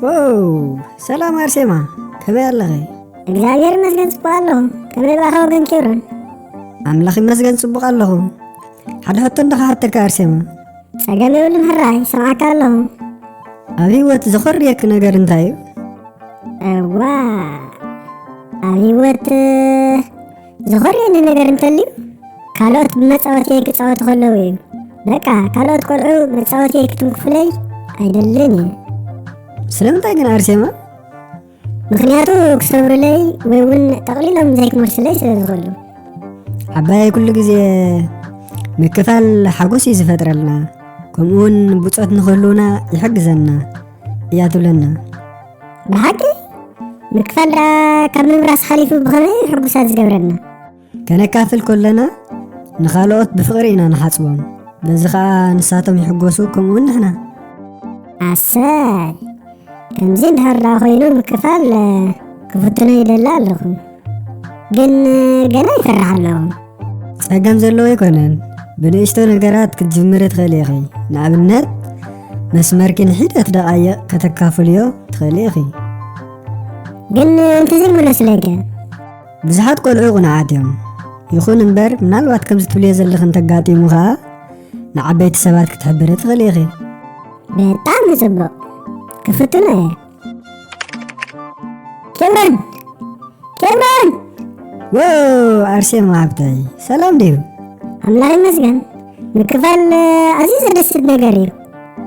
ዋው ሰላም ኣርሴማ ከመይ ኣለኺ እግዚኣብሔር ይመስገን ጽቡቅ ኣለኹ ከመይ ባኻ ወገን ኬብሮን ኣምላኽ ይመስገን ጽቡቕ ኣለኹ ሓደ ሕቶ እንዳኸሓተካ ኣርሴማ ጸገም የብሉን ሕራይ ሰምዓካ ኣለኹ ኣብ ህይወት ዘኾርየኪ ነገር እንታይ እዩ እዋ ኣብ ህይወት ዝኾነ ነገር እንተልዩ ካልኦት ብመፃወትየይ ክፃወቱ ከለዉ እዩ በቃ ካልኦት ቆልዑ መፃወትየይ ክትንክፉለይ ኣይደልን እዩ ስለምንታይ ግን ኣርሴማ ምክንያቱ ክሰብሩለይ ወይ እውን ጠቕሊሎም ዘይክመልሱለይ ስለ ዝኽእሉ ዓባየይ ኩሉ ግዜ ምክፋል ሓጎስ እዩ ዝፈጥረልና ከምኡውን ብፆት ንክህልውና ይሕግዘና እያ ትብለና ብሓቂ ምክፋል ካብ ምብራስ ሓሊፉ ብኸመይ ሕጉሳት ዝገብረና ከነካፍል ከለና ንኻልኦት ብፍቕሪ ኢና ንሓጽቦም በዚ ከዓ ንሳቶም ይሕጎሱ ከምኡ ንሕና ኣሰይ ከምዚ እንድሕር ዳ ኮይኑ ምክፋል ክፍትኖ ይደሊ ኣለኹ ግን ገና ይፈርሕ ኣለኹ ጸገም ዘለዎ ኣይኮነን ብንእሽቶ ነገራት ክትጅምሪ ትኽእሊ ኢኺ ንኣብነት መስመርኪ ንሒደት ደቓይቕ ከተካፍልዮ ትኽእሊ ኢኺ ግን እንተዘይምሎ ስለገ ብዙሓት ቆልዑ ቁንዓት እዮም ይኹን እምበር ምናልባት ከምዚ ትብልዮ ዘለኺ እንተጋጢሙ ኸዓ ንዓበይቲ ሰባት ክትሕብሪ ትኽእሊ ኢኺ በጣም ጽቡቕ ክፍትኖ እየ ኬብረን ኬብረን ወ ኣርሴማ ሃብተይ ሰላም ድዩ ኣምላኽ ይመስገን ምክፋል ኣዝዩ ዘደስት ነገር እዩ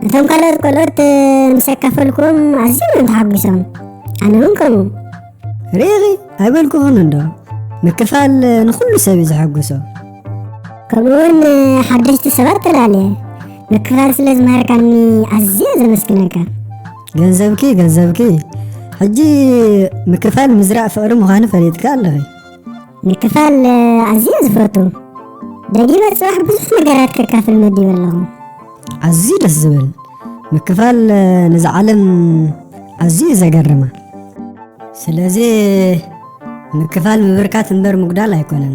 እቶም ካልኦት ቆልኦት ምስ ኣካፈልክዎም ኣዝዮም እዮም ተሓጒሶም ኣነ እውን ከምኡ ርኢኺ ኣይበልኩኹን እንዶ ምክፋል ንኹሉ ሰብ እዩ ዘሐጉሶ ከምኡ እውን ሓደሽቲ ሰባት ተላለየ ምክፋል ስለ ዝመሃርካኒ ኣዝየ ዘመስግነካ ገንዘብኪ ገንዘብኪ ሕጂ ምክፋል ምዝራእ ፍቕሪ ምዃኑ ፈሊጥካ ኣለኺ ምክፋል ኣዝየ ዝፈቱ ደጊመ ፅባሕ ብዙሕ ነገራት ከካፍል መዲበ ኣለኹ ኣዝዩ ደስ ዝብል ምክፋል ነዚ ዓለም ኣዝዩ ዘገርማ ስለዚ ምክፋል ምብርካት እምበር ምጉዳል ኣይኮነን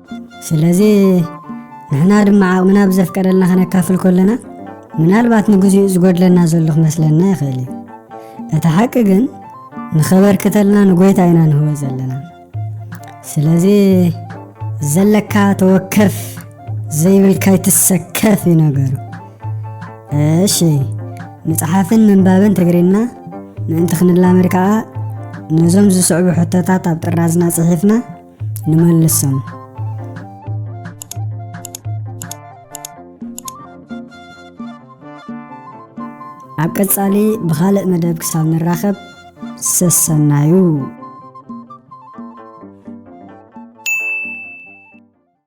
ስለዚ ንሕና ድማ ዓቕምና ብዘፍቀደልና ከነካፍል ኮለና ምናልባት ንግዚኡ ዝጎድለና ዘሎ ክመስለና ይኽእል እዩ እቲ ሓቂ ግን ንኸበርክተልና ንጎይታ ኢና ንህቦ ዘለና ስለዚ ዘለካ ተወከፍ ዘይብልካ ይትሰከፍ እዩ ነገሩ እሺ ምፅሓፍን ምንባብን ትግርና ምእንቲ ክንላመድ ከዓ ነዞም ዝስዕቡ ሕቶታት ኣብ ጥራዝና ፅሒፍና ንመልሶም። ኣብ ቀጻሊ ብኻልእ መደብ ክሳብ ንራኸብ ሰሰናዩ